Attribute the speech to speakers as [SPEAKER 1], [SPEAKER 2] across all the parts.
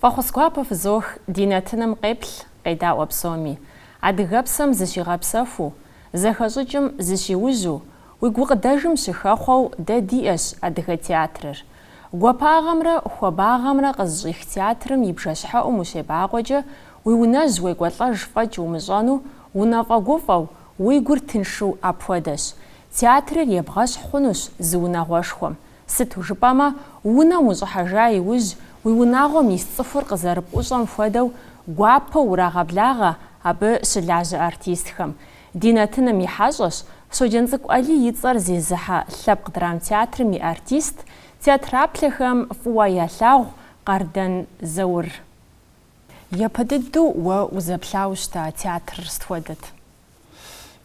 [SPEAKER 1] Фӏэхъус гуапэ фызох ди нэтыным къеплъ, къедаӏуэ псоми. Адыгэпсэм зыщигъэпсэхуу, зэхэщӏыкӏым зыщиужьу, Уи гукъыдэжым щыхэхъуэу дэ диӏэщ Адыгэ театрыр. Гуапагъэмрэ хуабагъэмрэ къызыщӏих театрым и бжэщхьэӏум ущебакъуэкӏэ, уи унэжь уекӏуэлӏэж фӏэкӏ умыщӏэну, унэфӏэгуфӏэу, уи гур тыншу апхуэдэщ. Театрыр ебгъэщхь хъунущ зы унагъуэшхуэм. Сыту жыпӏэмэ, унэм ущӏыхьэжа иужь, уи унагъуэм ис цӏыхур къызэрыпӏущӏэм хуэдэу, гуапэу урагъэблагъэ абы щылажьэ артистхэм. Ди нэтыным и хьэщӏэщ Щоджэнцӏыкӏу Алий и цӏэр зезыхьэ Лъэпкъ драмтеатрым и артист, театраплъэхэм фӏыуэ ялъагъу Къардэн Заур. Япэ дыдэу уэ узэплъауэ щыта театрыр сыт хуэдэт?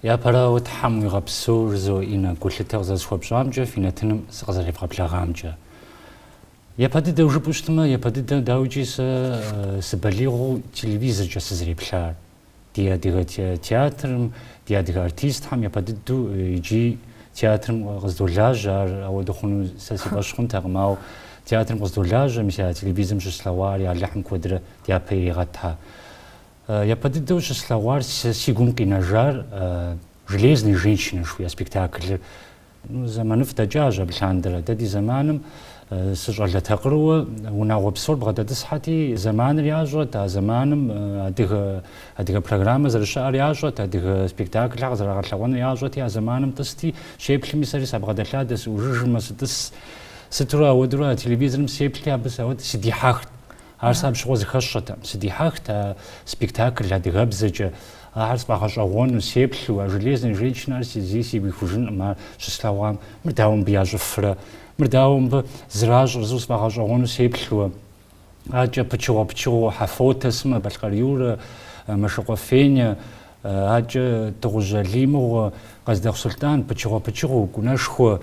[SPEAKER 1] Япэрауэ, Тхьэм уигъэпсэу, жызоӏэ, Иннэ, гулъытэ къызэрысхуэпщӏамкӏэ, фи нэтыным сыкъызэревгъэблэгъамкӏэ. Япэ дыдэу жыпӏэу щытмэ, япэ дыдэ, дауикӏи, сэ сыбалигъыу телевизоркӏэ сызэреплъар. Ди адыгэ театрым, ди адыгэ артистхэм япэ дыдэу иджы театрым къыздолажьэ, ар ауэдэ хъуну сэ си фӏэщ хъунтэкъым, ауэ театрым къыздолажьэ, мис а телевизорым щыслъэгъуар я Алыхьым куэдрэ дяпэ иригъэтхэ. Япэ дыдэу щыслъэгъуар, си гум къинэжар Железные женщины жыхуиӏэ спектаклыр Зэманыфӏ дэкӏащ абы лъандэрэ. Дэ ди зэманым сыщӏалэ такъырыуэ унагъуэ псор бгъэдэтӏысхьэти, зэманыр ящӏэт, а зэманым адыгэ, адыгэ программэ зэрыщыӏэр ящӏэт, адыгэ спектаклхэр къызэрагъэлъэгъуэныр ящӏэти, а зэманым тӏысти, щеплъми сэри сабгъэдэлъадэ, сыӏужыжмэ, сытӏыс. Сытурэ ауэдурэ а телевизорым сеплъи, абы сэ ауэ сыдихьэхт. Ар сэ абщыгъуэ зыхэсщӏэтэкъым, сыдихьэхт а спектакль адыгэбзэкӏэ, ахэр сфӏэгъэщӏэгъуэну, сеплъу, а железная женщинэр зэи сигу ихужынкъым ар щыслъэгъуам, мыр дауэ мыбы ящӏыфрэ, мыр дауэ мыбы зэращӏыр жысӏэу сфӏэгъэщӏэгъуэну сеплъуэ, аркӏэ пычыгъуэ-пычыгъуэу Хьэфотэ сымэ, Балъкъэр Юрэ, Мэшыкъуэ Фенэ, Акӏэ Тӏыхъужь Алий мыгъуэ, Къэздэхъу Сулътӏан, пычыгъуэ-пычыгъуу, Кӏунэшхуэ.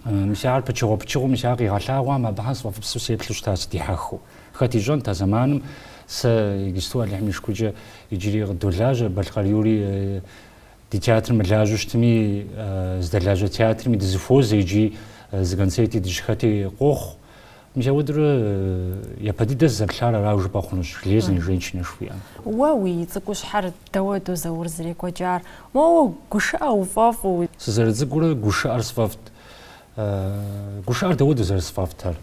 [SPEAKER 1] Мис ар пычыгъуэ-пычыгъуу, мис ар къигъэлъагъуам абыхьэм сфӏэфӏыпсу сеплъу щыта сыдихьэхыу. Хэт ищӏэнт а зэманым сэ иджысту Алыхьым и шыкуркӏэ иджыри къыдолажьэ, Балъкъэр Юрий ди театрым мылажьэу щытми, здэлажьэ театрми дызыхуозэ икӏи зы концерти дыщыхэти къохъу. Мыпхуэдэурэ япэ дыдэ сызэплъар арау жыпӏэ хъунущ железные женщины жыхуиӏэм. Уэ уи цӏыкӏущхьэр дауэду Заур зэрекӏуэкӏар? Моуэ гушыӏэ уфӏэфӏу. Сызэрыцӏыкӏурэ гушыӏэр сфӏэфӏт. Гушыӏэр дауэду зэрысфӏэфӏтэр?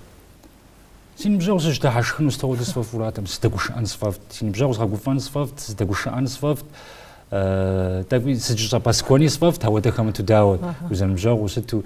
[SPEAKER 1] Си ныбжьэгъу сыщыдыхьэшхыну сытэгъуэдэ сфӏэфӏуратэм, сыдэгушыӏэн сфӏэфӏт, си ныбжьэгъу згъэгуфӏэн сфӏэфӏт, сыдэгушыӏэн сфӏэфӏт, тӏэкӏуи сыдыщӏэпӏэскӏуэни сфӏэфӏт, ауэ дэ хэмыту дауэт, узэрыныбжьэгъуу сыту.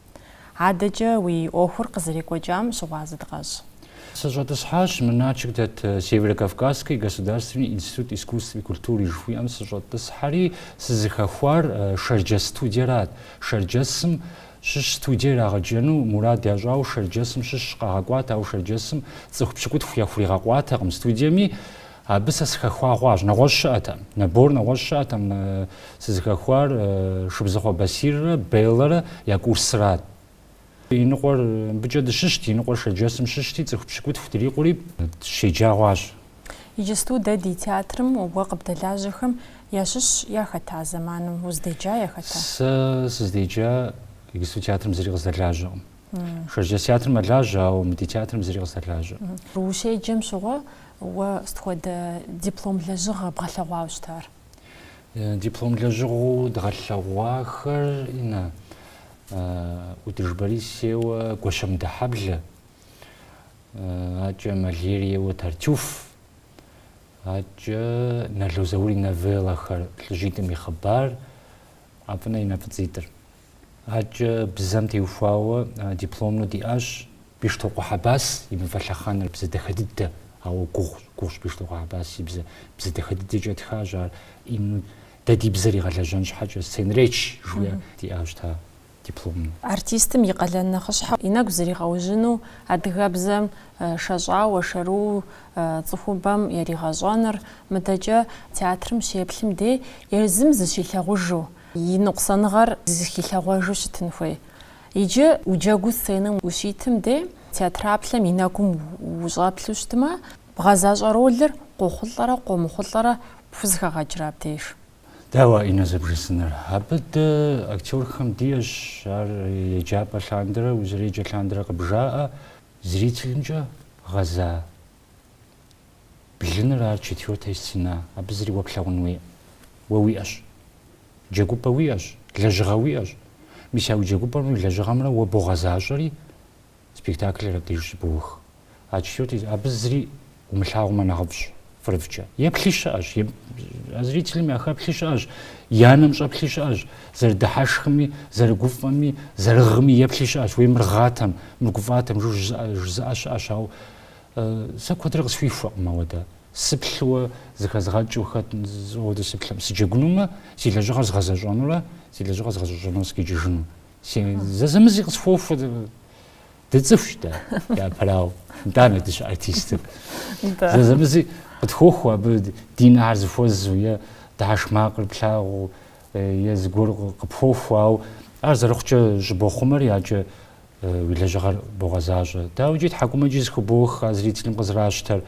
[SPEAKER 1] Адэкӏэ уи ӏуэхур къызэрекӏуэкӏам щыгъуазэ дыкъэщӏ. Сыщӏэтӏысхьащ мы Налшык дэт Северо-Кавказский государственный институт искусств и культуры жыхуиӏэм сыщӏэтӏысхьэри, сызыхэхуар Шэрджэс студиерат. Шэрджэсым щыщ студие ирагъэджэну мурад ящӏауэ Шэрджэсым щыщ къагъэкӏуат, ауэ Шэрджэсым цӏыху пщыкӏутху яхуригъэкъуатэкъым студиеми. Абы сэ сыхэхуа хъуащ. Нэгъуэщӏ щыӏэтэм. Набор нэгъуэщӏ щыӏэтэм. Мы сызыхэхуар Шыбзыхъуэ Басиррэ Беллэрэ я курсырат. Иныкъуэр мыбыкӏэ дыщыщт, иныкъуэр шэрджэсым щыщти, цӏыху пщыкӏутху дрикъури, дыщеджа хъуащ. Иджысту дэ ди театрым уэ къыбдэлажьэхэм ящыщ яхэтэ а зэманым? Уздеджа яхэтэ? Сэ сыздеджа иджысту театрым зыри къыздэлажьэкъым. Шэрджэс театрым мэлажьэ, ауэ мы ди театрым зыри къысалажьэ. Ущеджэм щыгъуэ уэ сыт хуэдэ диплом лэжьыгъэ бгъэлъэгъуауэ щытар? Э, диплом лэжьыгъэу дгъэлъэгъуахэр Инна, ӏутӏыж Борис ейуэ Гуащэмыдэхьэблэ, акӏэ Мольер ейуэ Тартюф, акӏэ Нало Заур и новеллэхэр Лӏыжьитӏым и хъыбар, ӏэфӏынэ и нэ фӏыцӏитӏыр. Адэкӏэ бзэм теухуауэ дипломнэу диӏащ Бещтокъуэ Хьэбас и Мывэ лъэхъэнэр. Бзэ дахэ дыдэ, ауэ гугъущ, гугъущ Бещтокъуэ Хьэбас и бзэр. Бзэ дахэ дыдэкӏэ тхащ ар. Ину дэ ди бзэр игъэлэжьэн щхьэкӏэ, сценречь жиӏэ, диӏащ та дипломнэу. Артистым и къалэн нэхъыщхьэу и нэгу зригъэужьыну, адыгэбзэм шэщӏауэ, шэрыуэу цӏыхубэм яригъэщӏэныр, мыдэкӏэ театрым щеплъым дей езым зыщилъагъужу, и ныкъусаныгъэр зыхилъэгъуэжу щытын хуей. Иджы уджэгуу сценэм ущитым де, театраплъэм и нэгум ущӏэплъу щытмэ, бгъэзащӏэ ролыр къохъулӏэрэ къомыхъулӏэрэ пхузыхэгъэкӏрэ абдеж? Дауэ, Инна зэбжесӏэныр. Абы дэ, актерхэм, диӏэщ ар еджапӏэ лъандэрэ, узэреджэ лъандэрэ къыбжаӏэ зрителымкӏэ гъэза Блыныр ар четвёртая стена, абы зыри уэ плъагъун уиӏэ. Уэ уиӏэщ. Джэгупӏэ уиӏэщ, лэжьыгъэ уиӏэщ. Мис а уи джэгупӏэмрэ уи лэжьыгъэмрэ уэ богъэзащӏэри, спектаклыр абдеж щыбоух. А четвёртая, абы зыри умылъагъумэ нэхъыфӏщ, фӏырыфӏкӏэ. Еплъи щыӏэщ, а зрителым яхэплъи щыӏэщ, я нэм щӏэплъи щыӏэщ, зэрыдыхьэшхми, зэрыгуфӏэми, зэрыгъми еплъи щыӏэщ. Уей мыр гъатэм, мыр гуфӏатэм жу жызыӏэ щыӏэщ, ауэ Сэ куэдрэ къысхуихуэкъым ауэдэ. Сыплъыуэ зыхэзгъэкӏыу хэт ауэдэ сыплъэм. Сыджэгунумэ, си лэжьыгъэр згъэзэщӏэнурэ си лэжьыгъэр згъэщӏэщӏэну сыкъикӏыжыну. Сэ зэзэмызи къысхуохуэ. Дыцӏыхущ дэ, япэрауэ. Итӏанэ дыщыартистыр. Зэзэмызи къытхуохуэ абы ди нэхэр зэхуэзэу е дыхьэшх макъыр плъагъуу е зыгуэр къыпхуохуэ, ауэ ар зэрыхъукӏэ щӏыбохъумэр яджэ Уи лэжьыгъэр богъэзащӏэ. Дауикӏи тхьэкӏумэкӏи зыхыбох а зрителым къызэращтэр,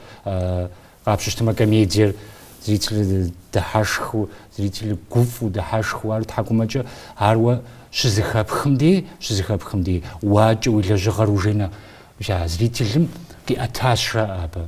[SPEAKER 1] къапщыщтэмэ комедиер зрителыр дыхьэшхыу, зрителыр гуфӏу, дыхьэшхыу, ар тхьэкӏумэкӏэ, ар уэ щызыхэпхым дей, щызыхэпхым дей, уакӏэ уи лэжьыгъэр уже нэ, зрителым къиӏэтащ жаӏэ абы.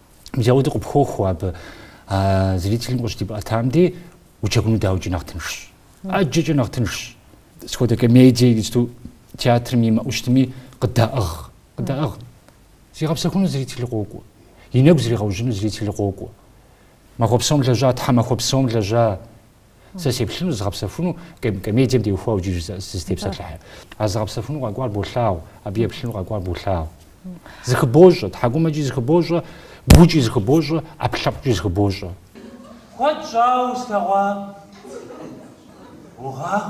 [SPEAKER 1] Мыдэ ауэдэу къыпхуохуэ абы а зрителым къыщыбдиӏэтам дей, уджэгуну дауикӏи нэхъ тыншщ. ӏэджэкӏэ нэхъ тыншщ. Сыт хуэдэ комедие иджыпсту театрым иӏэу щытми къыдаӏыгъ. Къыдаӏыгъ. Зигъэпсэхуну зрителыр къокӏуэ. И нэгу зригъэужьыну зрителыр къокӏуэ. Махуэ псом лэжьа, тхьэмахуэ псом лэжьа, Сэ сеплъыну зызгъэпсэхуну комедием теухуауэ иджы сызытепсэлъыхьыр. А зигъэпсэхуну къэкӏуар болъагъу, абы еплъыну къэкӏуар болъагъу. Зыхыбощӏэ, тхьэкӏумэкӏи зыхыбощӏэ, гукӏи зыхыбощӏэ, ӏэпкълъэпкъкӏи зыхыбощӏэ. Куэд щӏауэ услъэгъуа? Гугъагъ?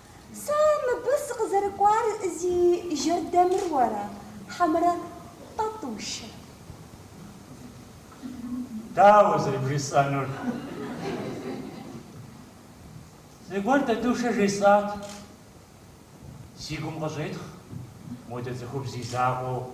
[SPEAKER 1] Сэ мыбы сыкъызэрыкӏуар зи жэрдэмыр уэрэ, хьэмэрэ Тӏэтӏушэ? Дауэ зэрыбжысӏэнур? Зыгуэр Тӏэтӏушэ жесӏат. Си гум къыщӏетхъ модэ цӏыхубз и закъуэу.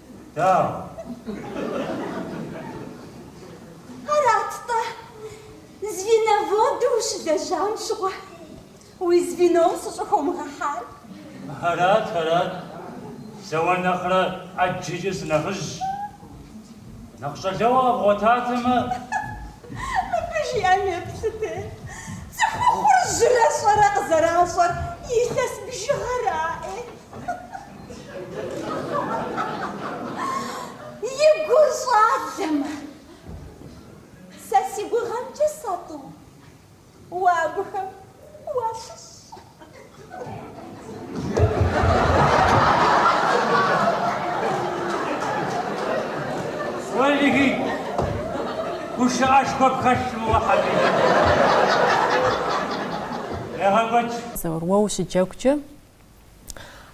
[SPEAKER 1] Да. Арат-тӏэ, звеноводу ущылэжьам щыгъуэ, уи звеном сыщӏыхыумыгъэхьар? Арат, арат. Сэ уэ нэхърэ ӏэджэкӏэ сынэхъыжьщ. Нэхъ щӏалэгъуэ къэбгъуэтатэмэ. Мыбы жиӏэм еплъыт, цӏыхухъур жьырэ-щӏэрэ къызэращӏэр илъэс бжыгъэра, ӏей? И гур щӏалэмэ, сэ си гугъэмкӏэ Заур, уэ абыхэм уащыщ. Уэлихи, гушыӏэшхуэ пхэлъым уэ хьэбиби. Егъэкӏуэкӏ. Заур, уэ ущыджэгукӏэ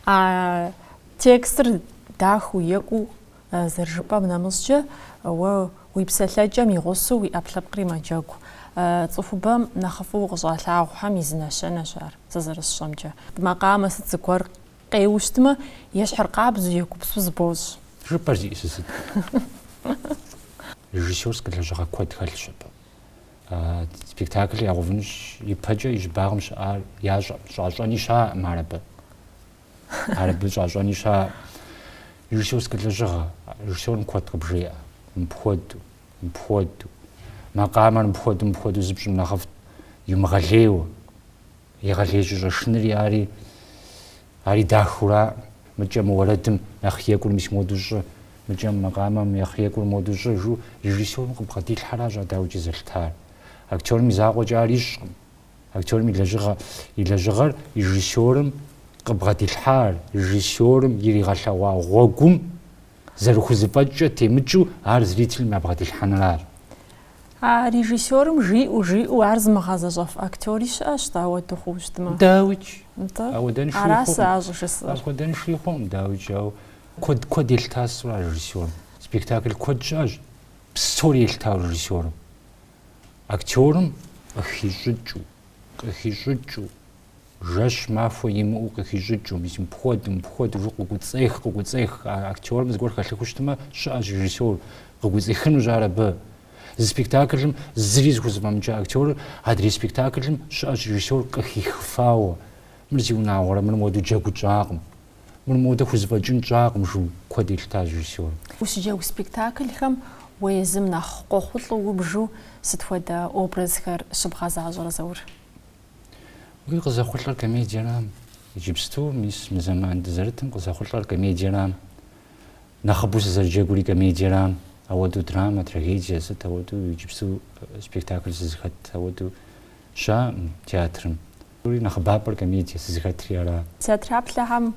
[SPEAKER 1] А текстыр дахэу екӏуу зэрыжыпӏэм нэмыщӏкӏэ, уэ уи псэлъэкӏэм и гъусэу уи ӏэпкълъэпкъри мэджэгу. Цӏыхубэм нэхъыфӏу укъыщӏалъагъухэм и зы нэщэнэщ ар, сэ зэрысщӏэмкӏэ. Макъамэ сыт зыгуэр къеуэу щытмэ, ещхьыркъабзэу, егупсысу зыбощӏ. Жыпӏэр зиӏысыр сыт? Режиссерскэ лэжьыгъэ куэд хэлъщ абы. спектаклыр ягъэувынущ ипэкӏэ и щӏыбагъым щыӏар ящӏэ щӏащӏэни щаӏым ар абы ар абы щӏащӏэни щаӏым режиссерскэ лэжьыгъэ режиссерым куэд къыбжеӏэ мыпхуэдэу мыпхуэдэу макъамэр мыпхуэдэу мыпхуэдэу зыпщӏым нэхъыфӏт иумыгъэлейуэ Егъэлеижьу щӏэшыныри ари, ари дахэу ара, мыкӏэ мы уэрэдым нэхъ екӏур мис моду щӏы, мыкӏэ мы макъамэм нэхъ екӏур моду щӏы, жу режиссёрым къыбгъэдилъхьэращ а дауикӏ зэлъытар. Актерым и закъуэкӏэ ар ищӏкъым. Актерым и лэжьыгъэ, и лэжьыгъэр режиссёрым къыбгъэдилъхьар, режиссёрым иригъэлъэгъуа гъуэгум зэрыхузэфӏэкӏкӏэ темыкӏыу ар зрителым ябгъэдилъхьэныращ. А режиссерым жиӏэу-жиӏэу ар зымыгъэзэщӏэф актери щыӏэщ-тӏэ ауэду хъууэ щытмэ? Дауикӏ. Нтӏэ? Ауэдэншэуи хъукъым. Ара сэ а щӏыжысӏэр? Апхуэдэншэуи хъукъым, дауикӏ, ауэ куэд, куэд елъытащ ар режиссерым. Спектакль куэд щыӏэщ псори елъытауэ режиссерым, актерым къыхищӏыкӏыу, къыхищӏыкӏыу. жэщ махуэ имыӏэу къыхищӏыкӏыу, мис мыпхуэдэу, мыпхуэдэу жи къыкӏуэцӏех, къыкӏуэцӏех, а актерым зыгуэр хэлъыххэу щытмэ, щыӏэщ режиссёр, къыкӏуэцӏихынущ ар абы. Зы спектаклым зыри зыхузэфӏэмыкӏа актерыр адрей спектаклым щыӏэщ режиссёр къыхихыфауэ, мыр зиунагъуэрэ, мыр модэ джэгу тщӏакъым, мыр модэ хузэфӏэкӏын тщӏакъым жу куэд елъытащ режиссёрым. Ущыджэгу спектаклхэм уэ езым нэхъ къохъулӏэу убжу сыт хуэдэ образхэр щыбгъэзащӏэрэ, Заур? Уей, къызэхъулӏэр комедиерам. Иджыпсту, мис, мы зэман дызэрытым къызэхъулӏэр комедиерам. Нэхъыбэу сызэрыджэгури комедиерам. Ауэдэу драмэ, трагедие, сыт ауэдэу иджыпсту спектакль сызыхэт ауэдэу щаӏым театрым. И нэхъыбапӏэр комедие сызыхэтри ара? Театреплъхэм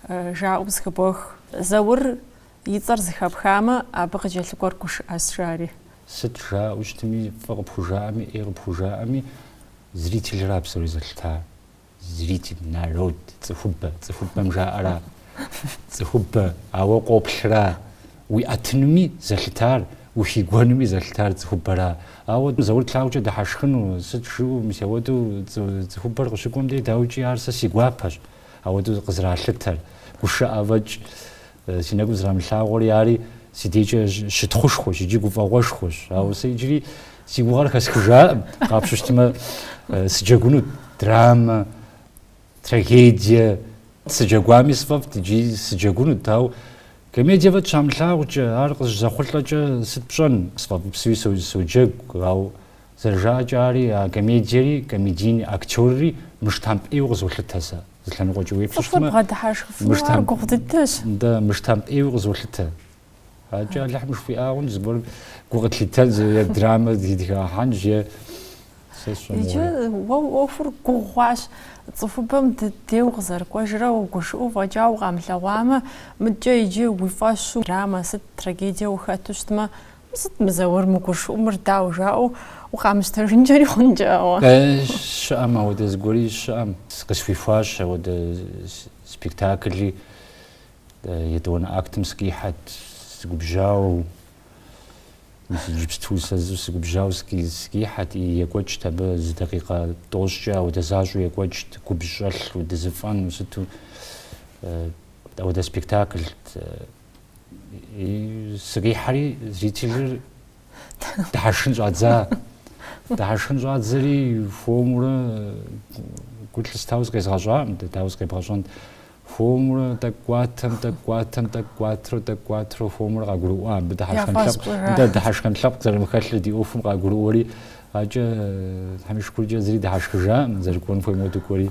[SPEAKER 1] жаӏэу зыхыбох. Заур И цӏэр зыхэпхамэ, абы къыкӏэлъыкӏуэр гушыӏэс, жари. Сыт жаӏэу щытми, фӏы къыпхужаӏэми, ӏей къыпхужаӏэми, зрительра псори зэлъыта. Зрителыр, народ, цӏыхубэ. Цӏыхубэм жаӏэра, цӏыхубэ, ауэ къоплъра. Уиӏэтынуми зэлъытар, ухигуэнуми зэлъытар цӏыхубэра. Ауэ Заур тлъагъукӏэ дыхьэшхыну, сыт жаӏэу, мис ауэдэу цӏыхубэр къыщыкӏуэм дей, дауикӏи, ар сэ си гуапэщ, ауэдэу къызралъытэр, гушыӏэфӏэкӏ Си нэгум зэрамылъагъури ари си дежкӏэ щытхъушхуэщ иджы гуфӏэгъуэшхуэщ. Ауэ сэ иджыри си гугъэр хэсхыжакъым. Къапщтэу щытмэ, сыджэгунут драмэ, трагедие, сыджэгуами сфӏэфӏт иджыри сыджэгунут, ауэ комедие фӏэкӏ щамылъагъукӏэ, ар къыщызэхъулӏэкӏэ сыт пщӏэн, сфӏэфӏыпсуи соджэгу, ауэ зэрыжаӏэкӏэ ари а комедиери, комедийный актерри мыштамп ӏейуэ къызолъытэ сэ. Зы лъэныкъуэкӏи Цӏыхур уеплъыщтмэ, бгъэдыхьэшхыфыну ар мыштам, гугъу дыдэщ. да, мыштамп ӏейуэ къызолъытэ. Аркӏэ Алыхьым жыхуиӏар хъунщ, зыгуэрым гу къыслъитэнщ, зы е драмэ сыхагъэхьэнщ, е сэ Иджы сщӏэмыгъуэрэ. уэ уи ӏуэхур гугъу хъуащ, цӏыхубэм ди деж къызэрыкӏуэжрэ угушыӏэу фӏэкӏа укъамылъэгъуамэ, мыдкӏэ иджы уи фӏэщу драмэ сыт, трагедие ухэту щытмэ, Сыт мы Заур мыгушыӏэу мыр, дауэ жаӏэу укъамыщтэжынкӏэри хъункӏэ, ауэ? Э, щыӏэм ауэдэ зыгуэри щыӏэм. Къысхуихуащ ауэдэ спектакли, етӏуанэ актым сыкъихьэт, сыгубжьауэ, мис иджыпсту сэ зэуэ сыгубжьауэ сыкъихьэт, и екӏуэкӏт абы зы дакъикъэ тӏощӏкӏэ, ауэдэ защӏэу екӏуэкӏт, губжь щӏэлъу дызэфӏэнэу сыту, ауэдэ спектаклт. Сыкъихьэри зрителыр дыхьэшхын щӏадза. Дыхьэшхын щӏадзэри хуэмурэ гу лъыстауэ зыкъезгъэщӏакъым, дауэ зыкъебгъэщӏэнт. хуэмурэ тӏэкӏуатэм, тӏэкӏуатэм, тӏэкӏуатрэ, тӏэкӏуатрэ хуэмурэ къагурыӏуа. Абы дыхьэшхын лъэпкъ, дэ дыхьэшхын лъэпкъ зэрымыхэлъыр ди ӏуэхум къагурыӏуэри, абыкӏэ Тхьэм и шыкуркӏэ зыри дыхьэшхыжакъым, зэрыкӏуэн хуейм хуэдэу дыкӏуэри.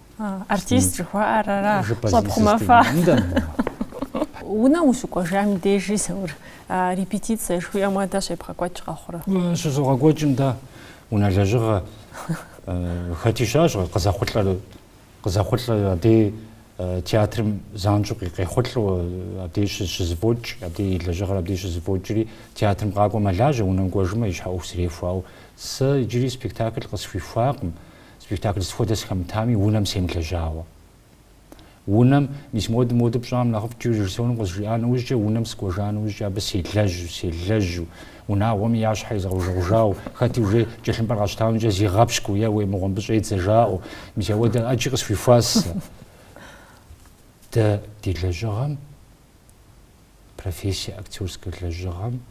[SPEAKER 1] Артист жыхуаӏэр ара? Щӏэпхъумэфа. Унэм ущыкӏуэжам и дежи, Заур, репетицэ жыхуиӏэм уэдэ щебгъэкӏуэкӏ къэхъурэ? Щызогъэкӏуэкӏым, дэ, унэ лэжьыгъэ. Хэти щыӏэщ къызэхъулӏэр, къызэхъулӏэ абдей театрым занщӏэу къехъулӏэу абдей щызыфӏокӏ, абдей и лэжьыгъэр абдей щызыфӏокӏри, театрым къакӏуэ мэлажьэ, унэм кӏуэжмэ, и щхьэ ӏуэху зэрехуэ, ауэ. Сэ иджыри спектакль къысхуихуакъым. Спектакль сыхуэдэ сыхэмытами, унэм семылэжьауэ. Унэм, мис модэу, модэу пщӏам нэхъыфӏт жиӏэу режиссёрым къызжиӏа нэужькӏэ, унэм сыкӏуэжа нэужькӏэ абы селэжьу, селэжьу, унагъуэми я щхьэр езгъэужэгъужауэ, хэти уже кӏэлъымпӏэр къэщтаунымкӏэ зигъэпщкӏуу еууей мыгъуэ, мыбы щӏедзэ жаӏэу, мис ауэдэ ӏэджи къысхуихуа сэ. Дэ ди лэжьыгъэм, профессие актерскэ лэжьыгъэм,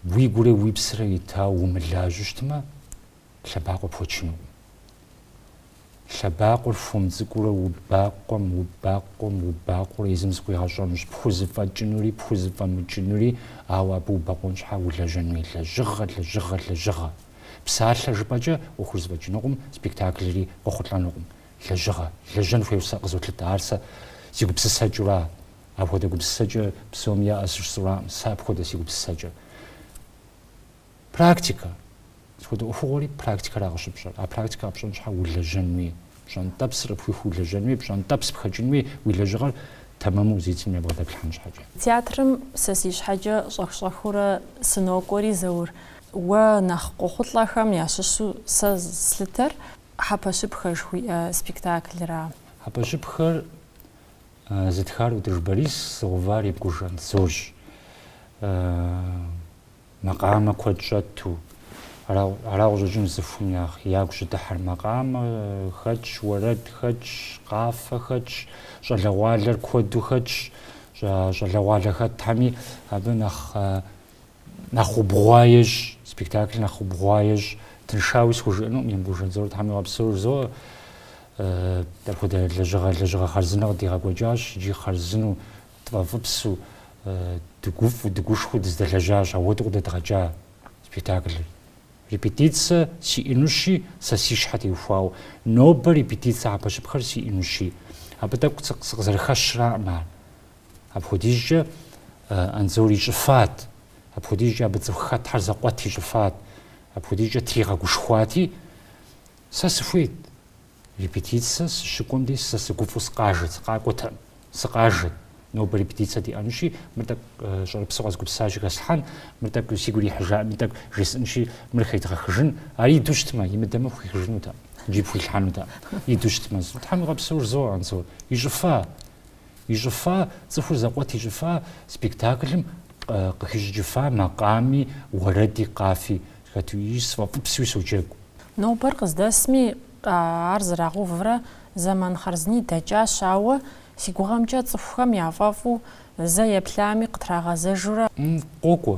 [SPEAKER 1] Уи гурэ уи псэрэ етауэ умылажьэу щытмэ, лъэбакъуэ пхуэчынукъым. Лъэбакъуэр хуэм цӏыкӏуурэ убакъуэм, убакъуэм, убакъуэурэ езым зыкъуигъэщӏэнущ, пхузэфӏэкӏынури, пхузэфӏэмыкӏынури, ауэ абы убэкъуэн щхьэ улэжьэн хуей лэжьыгъэ, лэжьыгъэ, лэжьыгъэ. Псалъэ жыпӏэкӏэ ӏуэхур зэфӏэкӏынукъым, спектаклри къохъулӏэнукъым. Лэжьыгъэ. Лэжьэн хуейуэ сэ къызолъытэ, ар сэ си гупсысэкӏэура? Апхуэдэ гупсысэкӏэ псоми яӏэ сщӏэраӏым сэ апхуэдэ си гупсысэкӏэр. Практикэ. Схуэдэ ӏуэхугъуэри практикэра къыщыпщӏэр. А практикэ къэпщӏэн щхьэ улэжьэн хуей. Пщӏэнтӏэпсыр къыпхихуу улэжьэн хуей, пщӏэнтӏэпс пхэкӏын хуей уи лэжьыгъэр тэмэму езы цӏыхум ебгъэдэплъхьэн щхьэкӏэ. Театрым сэ си щхьэкӏэ щӏэх-щӏэхыурэ сынокӏуэри, Заур, уэ нэхъ къохъулӏэхэм ящыщу сэ слъытэр Хьэпэщыпхэ жыхуиӏэ спектаклра. Хьэпэщыпхэр Зытхар ӏутӏыж Борис, зыгъэувар Емкӏуж Анзорщ. Макъамэ куэд щӏэту. Ара къыщӏэкӏын цӏыхум ягу щӏыдыхьэр. Макъамэ хэтщ, уэрэд хэтщ, къафэ хэтщ, щӏалэгъуалэр куэду хэтщ. Щӏалэгъуалэ хэтхьэми абы нэхъ Нэхъ убгъуа ещӏ, спектаклыр нэхъ убгъуа ещӏ, тыншауи схужыӏэнукъым, Емкӏуж Анзор Тхьэм игъэпсэу жызоӏэ. Апхуэдэ лэжьыгъэ, лэжьыгъэ хъарзынэ къыдигъэкӏуэкӏащ, иджи хъарзыну, тфӏэфӏыпсу, дыгуфӏу, дыгушхуэу дыздэлэжьащ, ауэдэу къыдэдгъэкӏа спектаклыр. Репетицэ сиӏэнущи, сэ си щхьэ теухуауэ, нобэ репетицэ хьэпэщыпхэр сиӏэнущи. Абы тӏэкӏу сыкъызэрыхэщраӏым ар. Апхуэдизкӏэ Анзор ищӏыфат, апхуэдизкӏэ абы цӏыху хэтхьэр зэкъуэт ищӏыфат, апхуэдизкӏэ тригъэгушхуати, Сэ сыхуейт, репетицэ сыщыкӏуэм дей сэ сыгуфӏу сыкъажэт, сыкъакӏуэтэкъым, сыкъажэт, нобэ репетицэ диӏэнущи, мыр тӏэкӏу щӏэрыпсу къэзгупсащи, хэслъхьэн, мыр тӏэкӏу сигу ирихьыжаӏым, мыр тӏэкӏу жесӏэнщи, мыр хедгъэхыжын, ар иду щытмэ, имыдэмэ хуихыжынутэкъым, иджи пхуилъхьэнутэкъым, иду щытмэ, Тхьэм игъэпсэу жызоӏэ, Анзор, ищӏыфа! Ищӏыфа, цӏыхур зэкъуэт ищӏыфа спектаклым къыхищӏыкӏыфа макъами, уэрэди, къафи хэту икӏи сфӏэфӏыпсуи соджэгу. Нобэр къыздэсми, ар зэрагъэуврэ зэман хъарзыни дэкӏащ, ауэ си гугъэмкӏэ цӏыхухэм яфӏэфӏу, зэ еплъами къытрагъэзэжурэ. Къокӏуэ.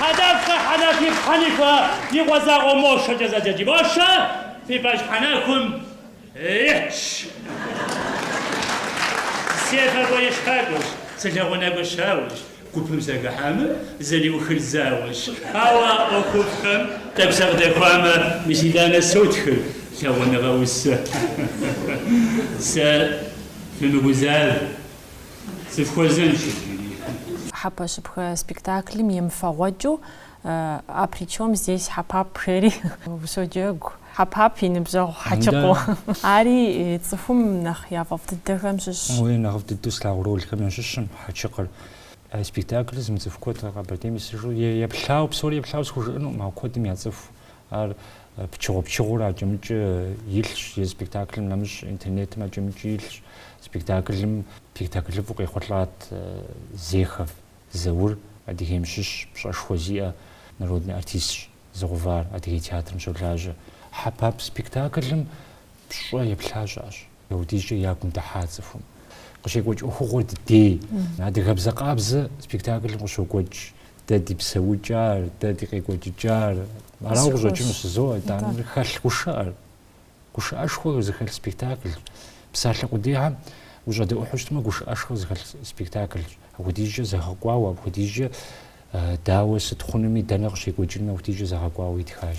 [SPEAKER 1] Хьэдэфхэ Хьэнафи Хьэнифэ и къуэ закъуэ Мощэкӏэ зэджэджи Мощэ фи пащхьэ нахуэм итщ. Сефакӏуэ-ешхакӏуэщ, сылэгъунакӏуэ щауэщ, гупым сэгыхьэмэ, зэриухыр зауэщ, ауэ ӏуэхуфӏхэм тӏэкӏу сыкъыдэхуамэ, мис итӏанэ сотхыр лъагъуныгъэ усэ. Сэ фымыгузавэ. Сыфхуэзэнщ иджыри. Хьэпэщыпхэ спектаклым емыфэгъуэкӏыу А при чем здесь Хьэпап? жери сыщоджэгу Хьэпап и ныбжьэгъу Хьэчыкъыу. Ари цӏыхум нэхъ яфӏэфӏ дыдэхэм щыщщ. Уей, нэхъыфӏ дыдэу слъагъу ролхэм ящыщым Хьэчыкъыр. А спектаклыр зымыцӏыху куэд Къэбэрдейм исыжу е еплъауэ, псори еплъауэ схужыӏэнукъым, ауэ куэдым яцӏыху Ар пычыгъуэ-пычыгъуэурэ акӏэ-мыкӏэ илъщ, е спектаклым нэмыщӏ интернетым акӏэ-мыкӏэ илъщ. Спектаклым спектаклыфӏу къехъулӏат Зехов Заур, Адыгейм щыщ, пщӏэшхуэ зиӏэ народный артистщ, зыгъэувар, Адыгей театрым щолажьэ. Хьэпап спектаклым пщӏэ еплъа щыӏэщ. Апхуэдизкӏэ ягум дыхьа цӏыхум къыщекӏуэкӏ ӏуэхугъуэр дыдей. Адыгэбзэ къабзэ спектаклым къыщокӏуэкӏ дэ ди псэукӏар, дэ ди къекӏуэкӏыкӏар. Арауэ къыщӏэкӏыну жызоӏэ, итӏанэ хэлъ гушыӏэр, гушыӏэшхуэ зыхэлъ спектаклщ. Псалъэ къудейхэм ущӏэдэӏухьу щытмэ, гушыӏэшхуэ зыхэлъ спектаклщ. Апхуэдизкӏэ зэгъэкӏуауэ, апхуэдизкӏэ дауэ, сыт хъунуми, дэнэ къыщекӏуэкӏынуми, апхуэдизкӏэ зэгъэкӏуауэ итхащ.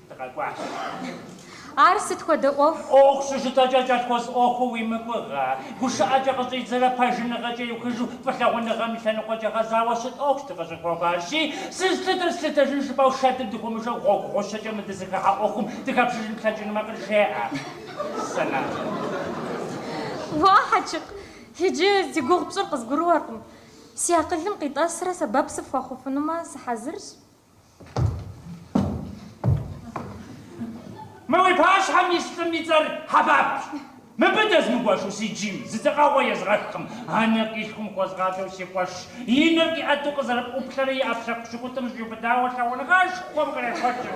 [SPEAKER 1] Дыкъэкӏуащ. Ар сыт хуэдэ ӏуэху? ӏуэху щыжытӏэкӏэ кӏэлъхуэс ӏуэхуу уи мыгугъэ, гушыӏэкӏэ къыщӏидзэрэ пэжыныгъэкӏэ иухыжу фӏылъагъуныгъэм и лъэныкъуэкӏэ гъэзауэ щыт ӏуэхущ дыкъыщӏыпхуэкӏуар. Аращи, сызлъытыр слъытэжын жыпӏэу шэдым дыхыумышэу гъуэгу гъущэкӏэ мы дызыхыхьэ ӏуэхум дыхэпшыжын плъэкӏынумэ къыджеӏэ. Сэнэхъ. Уа, Хьэчыкъ, иджы зи гугъу пщӏыр къызгурыӏуэркъым. Си акъылым къитӏэсрэ сэбэп сыфхуэхъуфынумэ сыхьэзырщ. Мы уи пащхьэм ис лӏым и цӏэр Хьэпапщ. Мыбы дэзмыгуэшу си джийм зы дзэкъэгъуэ езгъэхкъым. Анэкъилъхум хуэзгъадэу си къуэшщ. И нэр къиӏэту къызэрыӏуплъэрэ и ӏэпкълъэпкъ пщыкӏутӏым щӏиубыдауэ лъагъуныгъэшхуэм кърехуэкӏырт.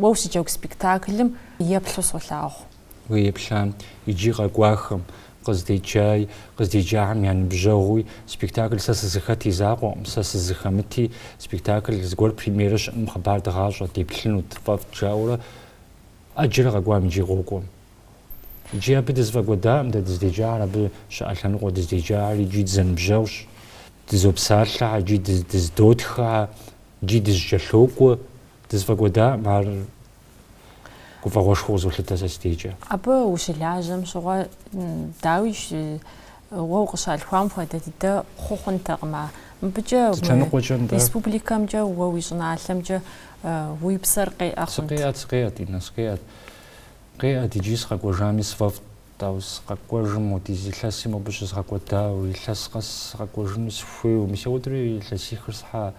[SPEAKER 1] Уэ ущыджэгу спектаклым еплъу солъагъу. Уеплъам иджи къэкӏуахэм, къыздеджаи, къыздеджахэм я ныбжьэгъуи, спектакль Сэ сызыхэт и закъуэкъым, Сэ сызыхэмыти, спектакль зыгуэр премьерэ щыӏэным хъыбар дгъащӏэ, деплъынут, фӏэфӏт, жаӏэурэ ӏэджэрэ къэкӏуам иджи къокӏуэ. Иджи абы дызэфӏэкӏуэдакъым дэ дыздеджахэр, абы щыӏэ лъэныкъуэ дыздеджахэр иджи дызэныбжьэгъущ, дызопсалъэхэ, иджи дыздотхыхэ, иджи дызэкӏэлъокӏуэ. Дызэфӏэкӏуэдаӏым ар гуфӏэгъуэшхуэу къызолъытэ сэ си дежкӏэ. Абы ущылажьэм щыгъуэ, дауи, уэ укъыщалъхуам хуэдэ дыдэ хъу хъунтэкъым ар. Мыбыкӏэ мы республикэмкӏэ уэ уи щӏыналъэмкӏэ уи псэр къеӏэ хъунт. Сыкъеӏэт, сыкъеӏэт, Иннэ, сыкъеӏэт. Къеӏэт иджи сыкъэкӏуэжами сфӏэфӏт. Ауэ сыкъэкӏуэжым модиз илъэси мобы щызгъэкӏуэдауэ, илъэс къэс сыкъэкӏуэжыну сыхуейуэ. Мис ауэдури илъэсихыр схьа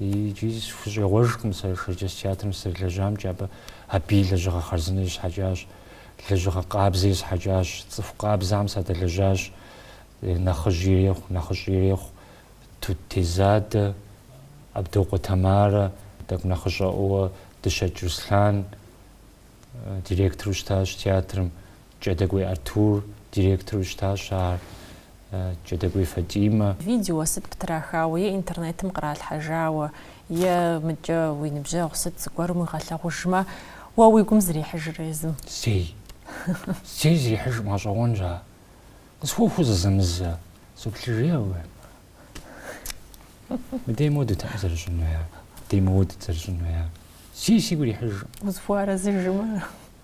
[SPEAKER 1] Икӏи сыхущӏегъуэжкъым сэ Шэрджэс театрым сызэрылэжьамкӏэ, абы абы и лэжьыгъэ хъарзынэ есхьэкӏащ, лэжьыгъэ къабзэ есхьэкӏащ, цӏыху къабзэхэм садэлэжьащ, нэхъыжь ирехъу, нэхъыщӏэ ирехъу, Тут Тезадэ, Абдокъуэ Тамарэ, тӏэкӏу нэхъыщӏэӏуэ Дыщэкӏ Руслъан директору щытащ театрым. Кӏэдыкӏуей Артур директору щытащ ар, Кӏэдыкӏуей Фатӏимэ. Видео сыт птрахауэ е интернетым къралъхьэжауэ, е мыдкӏэ уи ныбжьэгъу сыт зыгуэрым уигъэлъэгъужмэ, уэ уи гум зрихьыжрэ езым? Зэи. Зэи зрихьыжӏым, гъэщӏэгъуэнщ ар. Къысхуэхуу зызэмызэ, соплъыжей абы. Мыдей моуэ дытэкъым зэрыщӏынуи ар, мыдей моуэ дыт зэрыщӏынуи ар. Зэи сигу ирихьыжӏым. Узыхуэарэзыжымэ.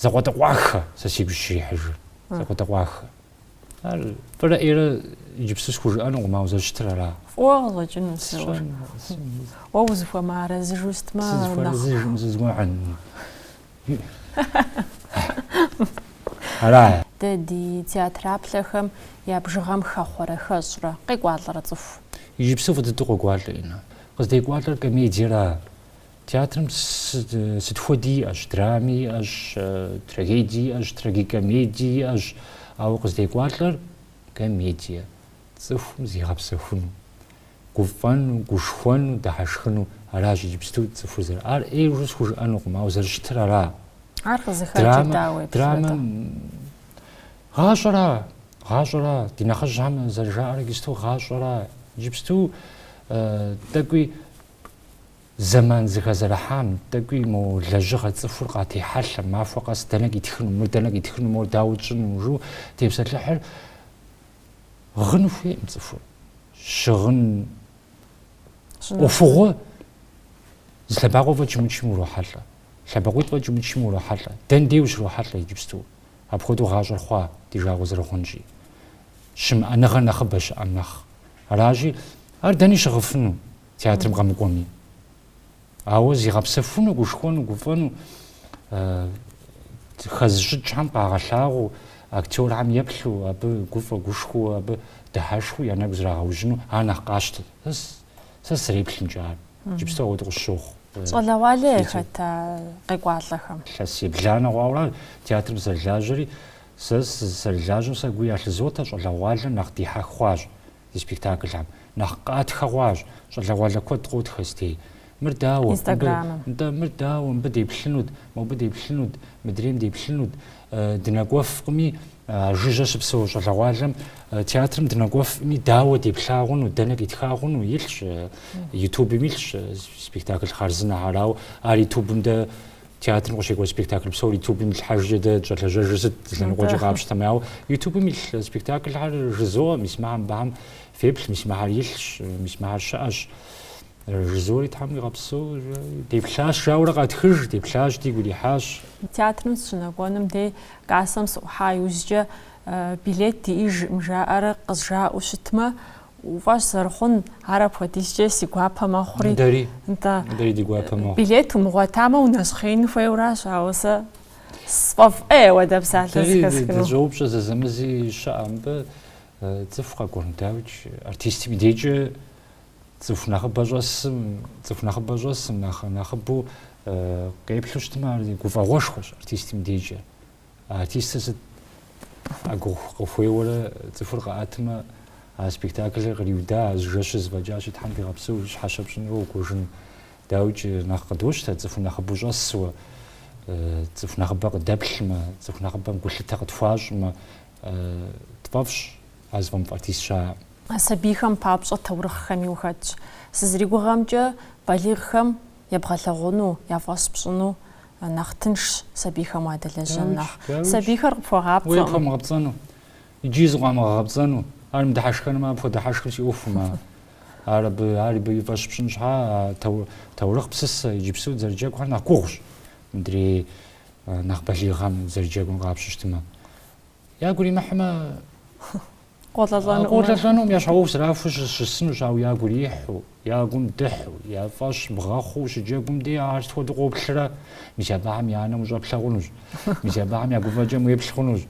[SPEAKER 1] Закъуэтӏакъуэххэ, сэ сигу щрихьыжыр. Закъуэтӏакъуэххэ. Ар фӏырэ ӏейрэ иджыпсту схужыӏэнукъым, ауэ зэрыщытыр ара? Фӏыуэ къыщӏэкӏыну зыуэ. Уэ узыхуэмыарэзыжу сытмэ нэхъ. Сызыхуэарэзыжым зызгуэӏэн. Ара? Дэ ди театраплъэхэм я бжыгъэм хэхъуэрэ, хэщӏрэ, къекӏуалӏэрэ цӏыху? Иджыпсту фӏы дыдэу къокӏуалӏэ, Инна. Къыздекӏуалӏэр комедиера, Театрым сыт хуэди иӏэщ, драми иӏэщ, трагедии иӏэщ, трагикомедии иӏэщ, ауэ къыздекӏуалӏэр комедие, цӏыхум зигъэпсэхуну, гуфӏэну, гушхуэну, дыхьэшхыну, аращ иджыпсту цӏыхур зэр. Ар ӏейр жу схужыӏэнукъым, ауэ зэрыщытыр ара? Ар къызыхэкӏыр дауэ еплъыта? Драмэм гъащӏэра, гъащӏэра, ди нэхъыжьхэм зэрыжаӏэр иджыпсту гъащӏэра, иджыпсту тӏэкӏуи Зэман зыхэзэрыхьам, тӏэкӏуи мо лэжьыгъэ цӏыхур къатехьэлъэ, махуэ къэс дэнэ къитхыну, мыр дэнэ къитхыну, мор дауэ тщӏыну, жу тепсэлъыхьыр гъыну хуейкъым цӏыхур. Щыгъын ӏуэхугъуэ зы лъэбакъуэ фӏэкӏ умычым урохьэлӏэ, лъэбакъуитӏ фӏэкӏ умычым урохьэлӏэ. Дэн дей ущрохьэлӏэ иджыпсту? Апхуэдэу гъащӏэр хъуа ди жагъуэ зэрыхъунщи? Щымыӏэныгъэр нэхъыбэ щыӏэм нэхъ. Аращи, ар дэни щыгъыфыну? театрым къэмыкӏуэми. Ауэ зигъэпсэхуну, гушхуэну, гуфӏэну хэзыщӏыкӏхэм къагъэлъагъуу, актерхэм еплъу, абы гуфӏэ гушхуэу, абы дыхьэшхыу я нэгу зрагъэужьыну ар нэхъ къащтэ. Сэ сызэреплъымкӏэ ар. Иджыпсту ауэдэ къысщохъу. Щӏалэгъуалэ яхэт къекӏуалӏэхэм? Илъэс ебланэ хъуауэ театрым сызэрылажьэри, сэ сызэрылажьэм сэ гу ялъызотэ, щӏалэгъуалэм нэхъ дихьэх хъуащ. ди спектаклхэм. Нэхъ къатхэ хъуащ, щӏалэгъуалэ куэд къотхэсти. Мыр дауэ? Нтӏэ, мыр дауэ? Мыбы деплъынут, мобы деплъынут, мыдрейм деплъынут. Дынэкӏуэфкъыми, а жыжьэ щыпсэу щӏалэгъуалэм театрым дынэкӏуэфкъыми, дауэ деплъагъуну, дэнэ къитлъагъуну илъщ, ютубым илъщ спектакль хъарзынэхэр, ауэ ар ютубым дэ театрым къыщекӏуэкӏ спектакль псор ютубым итлъхьэжкӏэ дэ дыщӏэлэжьэжыр сыт лъэныкъуэкӏэ къапщтэмэ ауэ ютубым илъ спектаклхэр жызоӏэ мис мыхьэм бэхьэм феплъ мис мыхьэр илъщ мис мыхьэр щыӏэщ жызори тхьэм уигъэпсэу деплъащ жаурэ къатхыж деплъащ дигу ирихьащ театрым сыщынэкӏуэным дей кассэм сыӏухьа иужькӏэ билет диӏэжкъым жаӏэрэ къызжаӏэу щытмэ Уи фӏэщ зэрыхъун, ар апхуэдизкӏэ си гуапэ мэхъури. Дэри. Нтӏэ. Дэри ди гуапэ мэхъу. Билет умыгъуэтамэ, унэщхъеин хуейуэращ, ауэ сэ сфӏэфӏ ӏей уэдэ псалъэ зыхэсхыну. Дэри дыщӏоупщӏэ зэзэмызи щыӏэ мыбы, цӏыху къэкӏуэр, дауикӏ, артистым и дежкӏэ цӏыху нэхъыбэ щӏэсым, цӏыху нэхъыбэ щӏэсым нэхъ нэхъыбэу къеплъу щытмэ, ар гуфӏэгъуэшхуэщ артистым и дежкӏэ. Артистыр сыт а гугъу къыхуейуэрэ цӏыхур къэӏэтмэ, а спектаклыр къриуда, а жэщыр зыфӏэкӏащи, Тхьэм дигъэпсэу, щхьэщэ пщӏынрэ укӏуэжын. Дауикӏ, нэхъ къыдощтэ цӏыху нэхъыбэу щӏэсуэ, цӏыху нэхъыбэ къыдэплъмэ, цӏыху нэхъыбэм гулъытэ къытхуащӏмэ, тфӏэфӏщ а зыфӏэмыфӏ артист щыӏэкъым. Сабийхэм папщӏэ таурыхъхэми ухэтщ. Сызригугъэмкӏэ, балигъхэм Ебгъэлъэгъуну, яфӏэщ пщӏыну нэхъ тыншщ сабийхэм уадэлэжьэн нэхъ. Сабийхэр къыпхуэгъапцӏэкъым. Уей къыпхуэмыгъэпцӏэну, иджыи зыкъыуамыгъэгъэпцӏэну, ар мыдыхьэшхэнумэ, апхуэдэ хьэшхыр си ӏуэхум, а, ар абы, ар абы и фӏэщ пщӏын щхьа, а тау, таурыхъ псысэ, иджыпсу дзэрыджэгухэр нэхъ гугъущ, мыдрей нэхъ балигъхэм дзэрыджэгум ебгъапщэу щытмэ. Ягу иримыхьмэ. Къолӏэлӏэнукъым. Къолӏэлӏэнукъым, я щхьэ ӏуэху зэрахуэу щысынущ, ауэ я гу ирихьу, я гум дыхьу, я фӏэщ бгъэхъуу ущыджэгум дей ар сыт хуэдэу къоплърэ? Мис абыхэм я нэм ущӏэплъэ хъунущ. Мис абыхэм я гуфӏэкӏэм уеплъ хъунущ.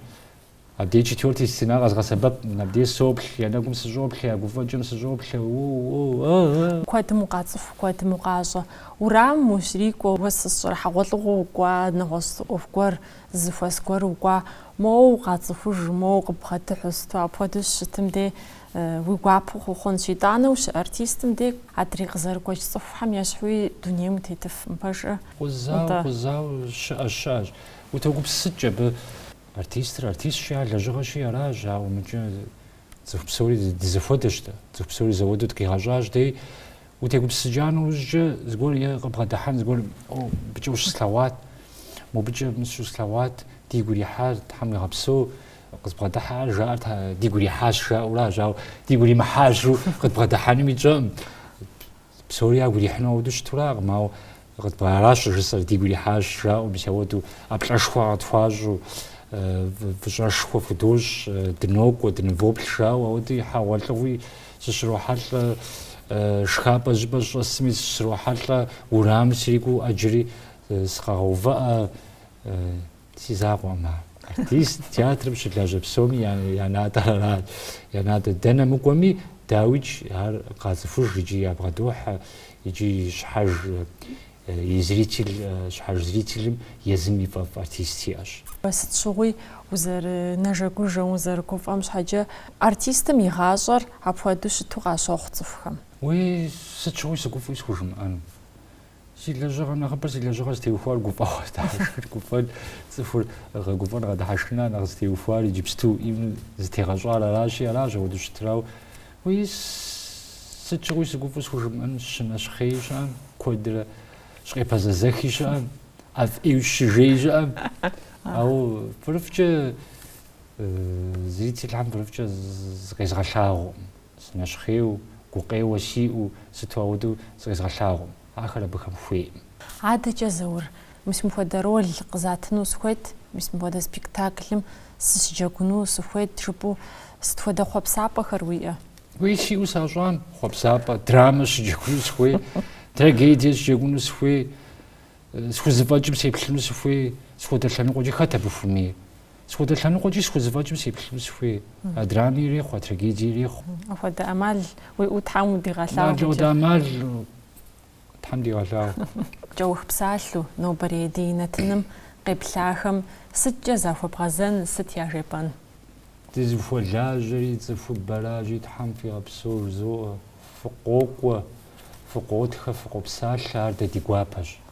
[SPEAKER 1] Абдей четвертый стена къэзгъэсэбэп, абдей соплъ, я нэгум сыщӏоплъэ, я гуфӏэкӏэм сыщӏоплъэ. О-о-о-о-о! Куэдым укъацӏыху, куэдым укъащӏэ. Уэрамым ущрикӏуэ, уэ сщӏэрэ хьэгъуэлӏыгъуэ укӏуа нэгъуэщӏ зы ӏуэху гуэр Зэхуэс гуэр укӏуа, моуэ укъацӏыхуж, моуэ укъыбгъэдыхьу, сыту апхуэдэу щытым де уи гуапэу хъуу хъунщ. Итӏанэ ущыартистым де адрей къызэрыгуэкӏ цӏыхухэм ещхьуи дунейм утетыфым, пэжкъэ. Къузауэ, къузауэ щыӏэщ, щыӏэщ. Утогупсысыкӏ абы. Артистыр артистщи, ар лэжьыгъэщи аращ, ауэ мыкӏэ цӏыху псори дызэхуэдэщ дэ. Цӏыху псори зэхуэдэу дыкъигъэщӏащ дей. Утегупсысыкӏа нэужькӏэ зыгуэр е къыбгъэдыхьэн зыгуэр мобыкӏэ ущыслъэгъуат, мобыкӏэ мис услъэгъуат, дигу ирихьар Тхьэм уигъэпсэу къызбгъэдыхьэр жаӏэр дигу ирихьащ жаӏэуращ, ауэ дигу иримыхьа жаӏэу къыдбгъэдыхьэнуми тщӏэкъым. Псори ягу ирихьыну ауэдэу щытуракъым, ауэ Аращ жысӏэр, дигу ирихьащ, жаӏэу мис ауэду. ӏэплӏэшхуэ къытхуащӏу, фӏыщӏэшхуэ фхудощӏ, дынокӏуэ, дынывоплъ жаӏэу ауэду хьэгъуэлӏыгъуи сыщрохьэлӏэ, шхапӏэ щӏыпӏэ сыщӏэсми сыщрохьэлӏэ, уэрамым срикӏуу ӏэджэри сыкъагъэувыӏэ, Си закъуэкъым ар. Артист театрым щылажьэ псоми я натӏэр арат. Я натӏэ дэнэ мыкӏуэми, дауикӏ, ар къацӏыхуж икӏи ябгъэдохьэ, икӏи щхьэж и зритель, щхьэж зрителым езым и фӏэфӏ артист иӏэщ. Сыт щыгъуи узэрынэжэгужэм, узэрыгуфӏэм щхьэкӏэ, артистым и гъащӏэр апхуэдэу щыту къащохъу цӏыхухэм. Уей, сыт щыгъуи сыгуфӏуи схужымыӏэну. Си лэжьыгъэ нэхъыбэр си лэжьыгъэ зытеухуар гуфӏэгъуэ, дыхьэшхыр, гуфӏэн цӏыхур гъэгуфӏэн гъэдыхьэшхын нэхъ зытеухуар иджыпсту ӏейуэ зытегъэщӏар аращи, аращ ауэдэу щытыр, ауэ. Уей сыт щыгъуи сыгуфӏу схужымыӏэн щынэщхъей щыӏэм, куэдрэ щыкъепэзэзэхи щыӏэм, ӏэфӏу щыжей щыӏэм. Ауэ пырыфкӏэ зрительхэм пырыфкӏэ зыкъезгъэлъагъуэкъым. Сынэщхъейу, гукъеуэ сиӏэу, сыту ауэдэу зыкъезгъэлъагъуэм. Ахэр абыхэм хуейкъым. Адэкӏэ, Заур, мис мыхуэдэ роль къызатыну сыхуейт, мис мыхуэдэ спектаклым сыщыджэгуну сыхуейт жыпӏэу сыт хуэдэ хъуэпсапӏэхэр уиӏэ? Уей сиӏэу сащӏам, хъуэпсапӏэ, драмэ сыщыджэгуну сыхуей, трагедие сыщыджэгуну сыхуей, схузэфӏэкӏым сеплъыну сыхуей, сыт хуэдэ лъэныкъуэкӏэ хэт абы хуэмейр? Сыт хуэдэ лъэныкъуэкӏи схузэфӏэкӏым сеплъыну сыхуей. А драми ирехъу, а трагедии ирехъу. Апхуэдэ ӏэмал уиӏэу Тхьэм удигъэлъагъу. Апхуэдэ ӏэмал Тхьэм дигъэлъагъу. Кӏэух псалъэу, нобэрей ди нэтыным къеплъахэм сыткӏэ захуэбгъэзэн, сыт яжепӏэн? Дызыхуэлажьэри, цӏыхубэращи, Тхьэм фигъэпсэу жызоӏэ, фыкъокӏуэ, фыкъотхэ, фыкъопсалъэ, ар дэ ди гуапэщ.